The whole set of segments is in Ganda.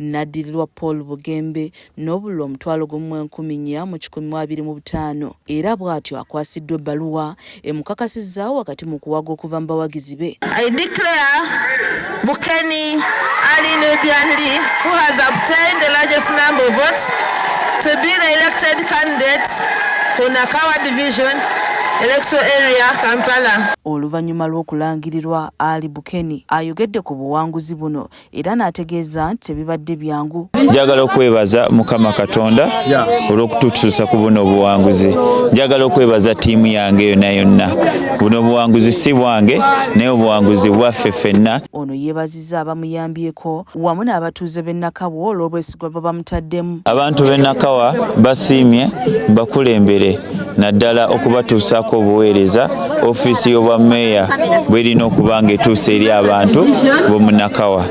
n'addirirwa Paul Bugembe n'obululu omutwalo gumu mu enkumi nnya mu kikumi mu abiri mu butaano era bw'atyo akwasiddwa ebbaluwa emukakasizza wakati mu kuwaga okuva mu bawagizi be. I declare Bukeni Ali Nubian Li who has obtained the largest number of votes to be the elected candidate for Nakawa Division Electoral Area Kampala. Oluvannyuma lw'okulangirirwa Ali Bukeni ayogedde ku buwanguzi buno era n'ategeeza nti tebibadde byangu. Njagala okwebaza Mukama Katonda olw'okututuusa ku buno obuwanguzi. Njagala okwebaza ttiimu yange yonna yonna. Buno obuwanguzi si bwange naye obuwanguzi bwaffe ffenna. Ono yeebazizza abamuyambyeko wamu n'abatuuze b'e Nakawa olw'obwesigwa bwe bamu. mutaddemu. Abantu b'e Nakawa basiimye bakulembere naddala okubatuusaako obuweereza ofiisi y'obwammeeya bwerina okuba nga etuusa eri abantu b'omunakawa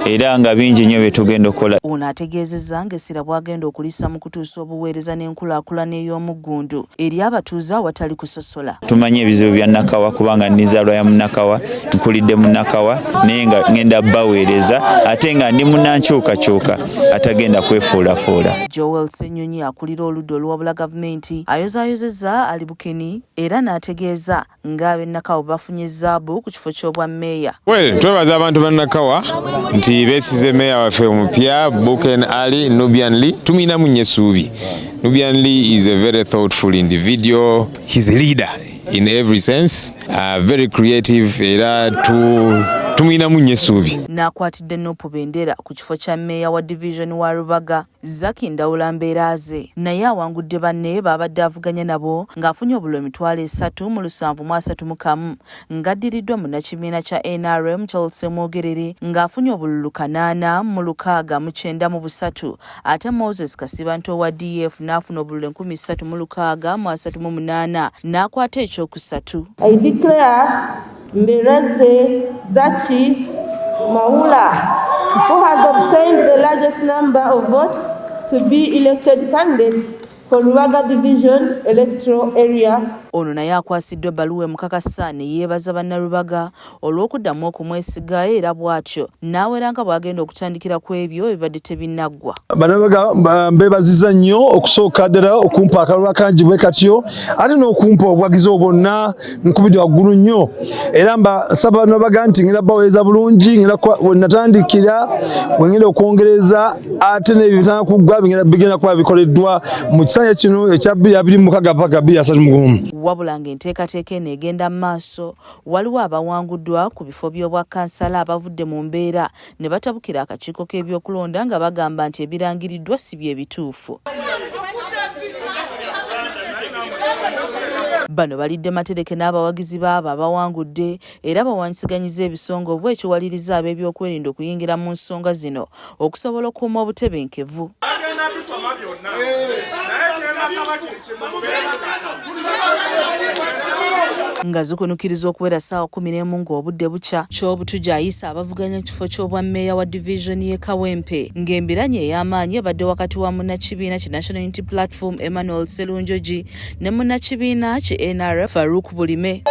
era nga bingi nnyo bye tugenda okukola. Ono ategeezezza ng'essira bwagenda okulissa mu kutuusa obuweereza n'enkulaakulana ey'omuggundu eri abatuuze awatali kusosola. Solar. Tumanyi ebizibu bya Nakawa kubanga nizalwa ya Munakawa, nkulidde Munakawa naye nga ngenda baweereza ate nga ndi munankyukakyuka atagenda kwefuulafuula. Joel Senyonyi akulira oludda oluwabula gavumenti ayozaayozezza Ali Bukeni era n'ategeeza nga ab'e Nakawa bafunye zzaabu ku kifo ky'obwa meeya. Well, twebaza abantu ba Nakawa nti beesize meeya waffe omupya Buken Ali Nubian Li tumuyinamu nnyo essuubi Nubian Lee is a very thoughtful individual. He's a leader in every sense. Uh, very creative era tu tumuyinamu nnyo essuubi n'akwatidde nupu bendera ku kifo kya meeya wa divizoni wa rubaga zaki ndawula mbeera ze naye awangudde banne baabadde avuganya nabo ng'afunye obulwa emitwalo esatu mu lusanvu mu asatu mu kamu ng'addiriddwa munnakibiina kya nrm charles semwogerere ng'afunye obululu kanaana mu lukaaga mu kyenda mu busatu ate Moses Kasibantu owa DF n'afuna obululu enkumi ssatu mu lukaaga mu asatu mu munaana n'akwata ekyokusatu. I declare Mberazze Zaki Mawula who has obtained the largest number of votes to be elected candidate for Lubaga Division Electoral Area. Ono naye akwasiddwa ebbaluwa emukakasa ne yeebaza Bannalubaga olw'okuddamu okumwesiga era bw'atyo n'awera nga bw'agenda okutandikira ku ebyo ebibadde tebinaggwa. Bannalubaga mbeebaziza nnyo okusooka ddala okumpa akalulu akangi bwe katyo ate n'okumpa obuwagizi obwo bwonna nkubidde waggulu nnyo era mbasaba nobaga nti ngenda baweereza bulungi ngenda natandikira wengenda okwongereza ate nebyo bitana kuggwa bigenda kuba bikoleddwa mu kisanja kino ekya bbiri abiri mukaga paka bbiri asatu mugumu wabula nga enteekateeka eno egenda mu maaso waliwo abawanguddwa ku bifo by'obwa kansala abavudde mu mbeera ne batabukira akakiiko k'ebyokulonda nga bagamba nti ebirangiriddwa si bye bituufu. Bano balidde matereke n'abawagizi baabo abawangudde era bawanyisiganyizza ebisongovu ekiwaliriza ab'ebyokwerinda okuyingira mu nsonga zino okusobola okuuma obutebenkevu. nga zikunukiriza okuwera ssaawa kumi n'emu ng'obudde bukya ky'obutujja ayisa abavuganya ekifo ky'obwa meeya wa divizoni y'e kawempe ng'embiranye ey'amaanyi ebadde wakati wa munnakibiina ki national unity platform emmanuel serunjogi ne munnakibiina ki nrf faruk bulime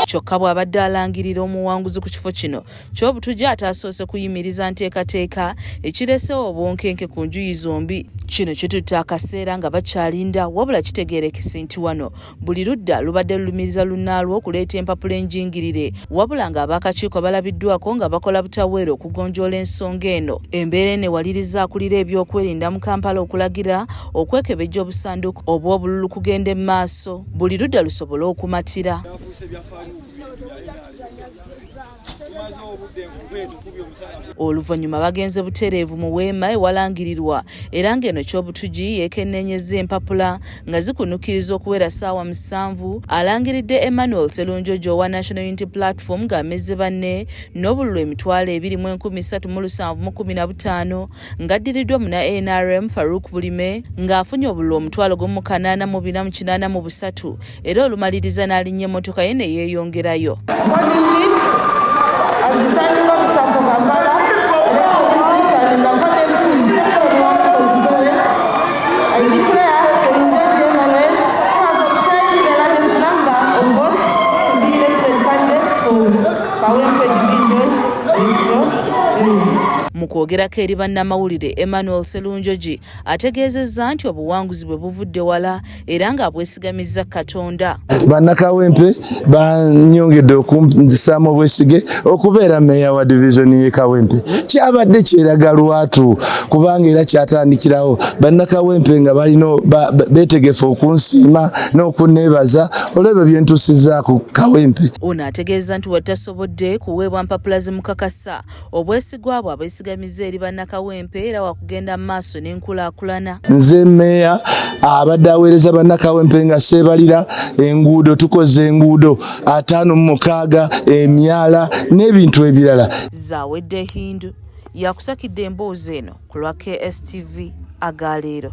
kyokka bw'abadde alangirira omuwanguzi ku kifo kino Kyobutujju ate asoose kuyimiriza nteekateeka ekiresewo obunkenke ku njuyi zombi. Kino kitutte akaseera nga bakyalinda wabula kitegeerekese nti wano buli ludda lubadde lulumiriza lunnaalwo okuleeta empapula enjingirire wabula ng'abaakakiiko balabiddwako nga bakola butaweera okugonjoola ensonga eno. Embeera eno ewaliriza akulira ebyokwerinda mu Kampala okulagira okwekebejja obusanduuko obw'obululu kugende mu maaso buli ludda lusobole okumatira. oluvannyuma bagenze butereevu mu weema ewalangirirwa era ng'eno ky'obutugi yeekenneenyezza empapula nga zikunukiriza okuwera ssaawa musanvu alangiridde emmanuel telunjojo owa national unity platform ng'amezze banne n'obululu emitwalo ebiri mu enkumi ssatu mu lusanvu mu kumi na butaano ng'addiriddwa muna nrm farouk bulime ng'afunye obululu omutwalo gumu mu kanaana mu bina mu kinaana mu busatu era olumaliriza n'alinnya emmotoka ye ne yeeyongerayo. mu kwogerako eri bannamawulire emmanuel selunjogi ategeezezza nti obuwanguzi bwe buvudde wala era ng'abwesigamizza Katonda. Bannakawempe banyongedde okunzisaamu obwesige okubeera meeya wa divizoni y'e Kawempe. Kyabadde kyeraga lwatu kubanga era kyatandikirawo bannakawempe nga balina beetegefu okunsiima n'okunneebaza olw'ebyo bye ntuusizza ku Kawempe. Ono ategeezza nti bwe tasobodde kuweebwa mpapula zimukakasa obwesigwa bwabwe esigamiza eri bannakawempe era wakugenda mu maaso n'enkulaakulana. Nze meeya abadde aweereza bannakawempe nga seebalira enguudo, tukoze enguudo ataano mu mukaaga, emyala n'ebintu ebirala. Zawedde Hindu yakusakidde emboozi eno ku lwa KSTV aga leero.